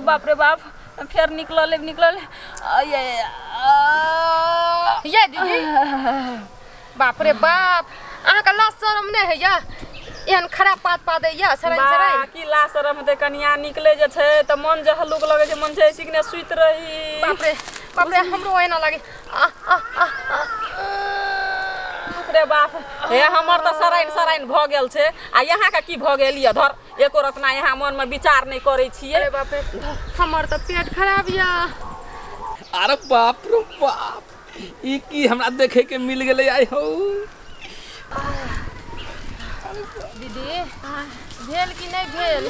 बाप रे बाप फेर निकलल निकलल ये दीदी बाप रे बाप अहाँके लाज शरम नहि होइए एहन खराब पात पा दैया सराय सराय की ला शरम हेतै कनिया निकले जे छै तऽ मन जे हल्लुक लगै छै मन छै ऐसी कि सुति रही बाप रे बाप रे हमरो एना लागे आ आ आ रे बाप हे हमर तऽ सराइन सराइन भऽ गेल छै आ यहाँके की भऽ गेल यऽ धर एको रत्ना यहाँ मन में विचार नहीं करे छिए अरे बाप रे हमर तो पेट खराब या अरे बाप रे बाप ई की हमरा देखे के मिल गेले आय हो दीदी भेल कि नहीं भेल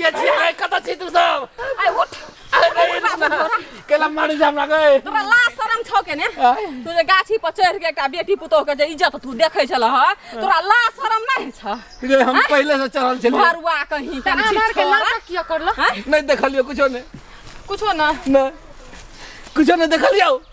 के छी रे कत छी तू सब आइ उठ अरे रे बाबू तोरा केला मारी जा हमरा गए तोरा लाज शरम छौ के ने आय। तू जे गाछी पर चढ़ के एकटा बेटी पुतोह के जे इज्जत तू देखै छल ह तोरा लाज शरम नहीं छ रे हम पहले से चढ़ल छलिए भरुआ कहीं त आधार के नाटक किया करलो नहीं देखलियो कुछो ने कुछो ना ना कुछो ने देखलियो